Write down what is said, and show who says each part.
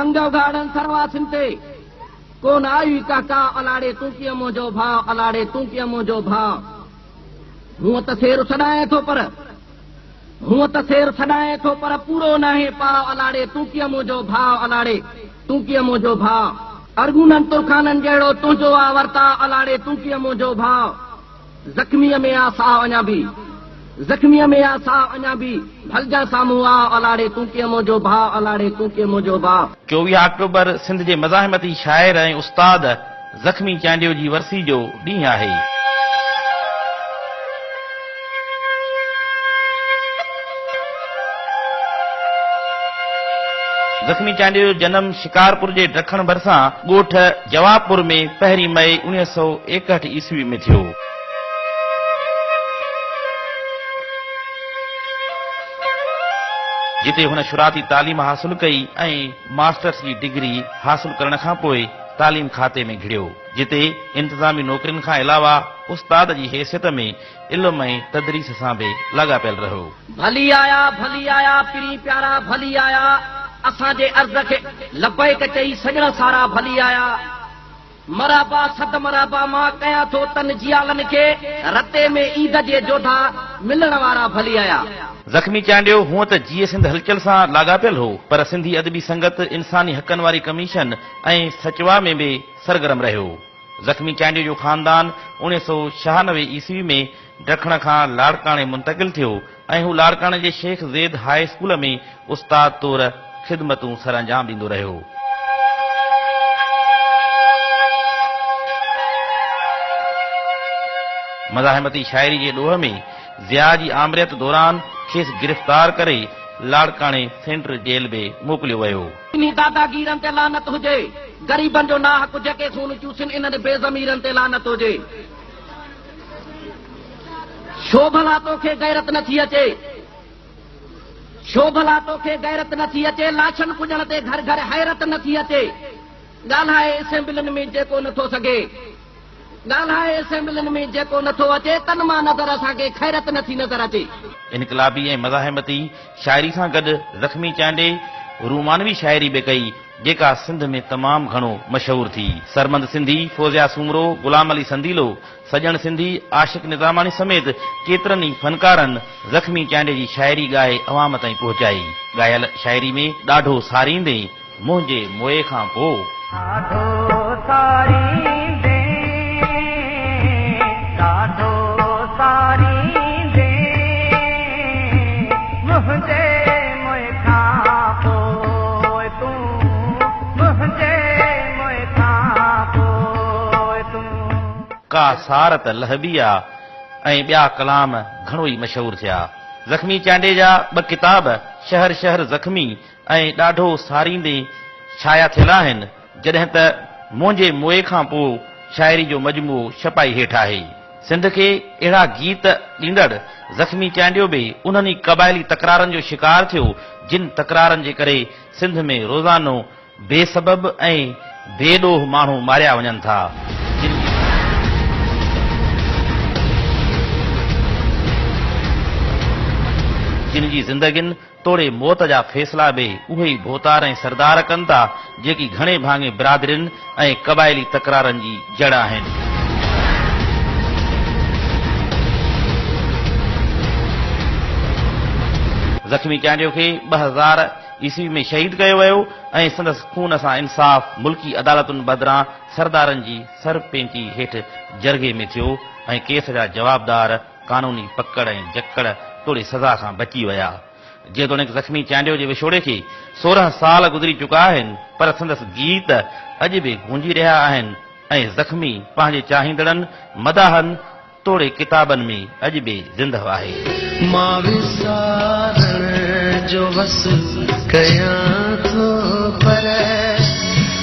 Speaker 1: انگ
Speaker 2: اگهاڙن سرواسين تي، ڪو نه آيوئي ڪا ڪاء الاڙي تون ڪيئن منهنجو ڀاء الاڙي تون ڪيئن منهنجو ڀاء هونء ته سير سڏائين ٿو پر هونء ته سير سڏائين ٿو پر پورو ناهي پاء الاڙي تون ڪيئن منهنجو ڀاء الاڙي تون ڪيئن منهنجو ڀاء. ارغونن ترخانن جهڙو تنهنجو آ ورتاء الاڙي تون ڪيئن منهنجو ڀاء. زخميء ۾ آ ساهه اڃا به، زخميء ۾ آ ساهه اڃا به، ڀلجان سامهون آء الاڙي تون ڪيئن منهنجو ڀاء، الاڙي تون ڪيئن منهنجو ڀاء. چوويهه آڪٽوبر
Speaker 3: سنڌ جي مزاحمتي شاعر ۽ استاد زخمي چانڊيو جي ورسي جو ڏينهن آهي. زخمي چانڊيو جو جنم شڪارپور جي ڊکڻ ڀرسان ڳوٺ. جوابپور ۾ پهرين مئي اڻيهه سؤ ايڪهٺ عيسوي ۾ ٿيو. جتي هن شرعاتي تعليم حاصل ڪئي ۽ ماسٽرس جي ڊگري حاصل ڪرڻ کان پوء تعليم کاتي ۾ گهڙيو جتي انتظامي نوڪرين کان علاوه استاد جي حيثيت ۾ علم ۽ تدريس سان به لاڳاپيل رهيو. ڀلي آيا
Speaker 2: ڀلي آيا پرين پيارا ڀلي آيا اسان جي عرض کي لبيڪ چئي سڄڻ سارا ڀلي آيا مرحبا صد مرحبا مان ڪيان ٿو تن جيالن کي رتي ۾ عيد جي جوڌا ملڻ وارا ڀلي آيا. زخمي چانڊيو
Speaker 3: هونء ته جيئي سنڌ هلچل سان لاڳاپيل هو پر سنڌي ادبي سنگت، انساني حقن واري ڪميشن ۽ سچوا ۾ به سرگرم رهيو. زخمي چانڊيو جو خاندان اوڻيھ سؤ ڇهانوي عيسوي ۾ ڊکڻ کان لاڙڪاڻي منتقل ٿيو ۽ هو لاڙڪاڻي جي شيخ زيد هاء اسڪول ۾ استاد طور خدمتون سرانجام ڏيندو رهيو. مزاحمتي شاعري جي ڏوھ ۾ ضياء جي آمريت دوران کيس گرفتار ڪري لاڙڪاڻي سينٽر جيل به موڪليو ويو. انهي داداگيرن
Speaker 2: تي لعنت هجي. غريبن جو ناحق جيڪي خون چوسين انهن بي ضميرن تي لعنت هجي. ڇو ڀلا توکي غيرت نٿي اچي. ڇو ڀلا توکي غيرت نٿي اچي لاشن پڄڻ تي گهر گهر حيرت نٿي اچي. ڳالهائي اسيمبلين ۾ جيڪو نٿو سگهي. ڳالهائي اسيمبلين ۾ جيڪو نٿو اچي تن مان نظر اسان کي خيرت نٿي نظر اچي. انقلابي ۽
Speaker 3: مزاحمتي شاعري سان گڏ زخمي چانڊئي رومانوي شاعري به ڪئي، جيڪا سنڌ ۾ تمام گهڻو مشهور ٿي. سرمند سنڌي، فوزيا سومرو، غلام علي سنديلو، سڄڻ سنڌي، عاشق نظاماڻي سميت ڪيترن ئي فنڪارن زخمي چانڊئي جي شاعري ڳائي عوام تائين پهچائي. ڳايل شاعري ۾ ڏاڍو ساريندي، منهنجي موئي کان پوء. ڏاڍو ساريندين، ڏاڍو ساريندين، منهنجي موئي کان پوء تون، منهنجي موئي کان پوء تون. ڪا سار ته لهبي آ ۽ ٻيا ڪلام گهڻو ئي مشهور ٿيا. زخمي چانڊيجا ٻه ڪتاب شهر شهر زخمي، ۽ ڏاڍو ساريندي ڇايا ٿيل آهن، جڏهن ته منهنجي موئي کان پوء شاعري جو مجموعو ڇپائي هيٺ آهي. سنڌ کي اهڙا گيت ڏيندڙ زخمي چانڊيو به انهن ئي قبائلي تڪرارن جو شڪار ٿيو، جن تڪرارن جي ڪري سنڌ ۾ روزانو بي سبب ۽ بي ڏوهه ماڻهو ماريا وڃن ٿا، جن جي. جن جي زندگين توڙي موت جا فيصلا به اهي ئي ڀوتار ۽ سردار ڪن ٿا، جيڪي گهڻي ڀاڱي برادرين ۽ قبائلي تڪرارن جي جڙ آهن. زخمي چانڊيو کي ٻه هزار عيسوي ۾ شهيد ڪيو ويو ۽ سندس خون سان انصاف ملڪي عدالتن بدران سردارن جي سر پينچي هيٺ جرڳي ۾ ٿيو ۽ ڪيس جا جوابدار قانوني پڪڙ ۽ جڪڙ توڙي سزا کان بچي ويا. جيتوڻيڪ زخمي چانڊيو جي وڇوڙي کي سورهن سال گذري چڪا آهن پر سندس گيت اڄ به گونجي رهيا آهن ۽ زخمي پنهنجي چاهيندڙن، مداحن توڙي ڪتابن ۾ اڄ به زندهه آهي. مان
Speaker 4: وسارڻ جو وس ڪيان ٿو پر.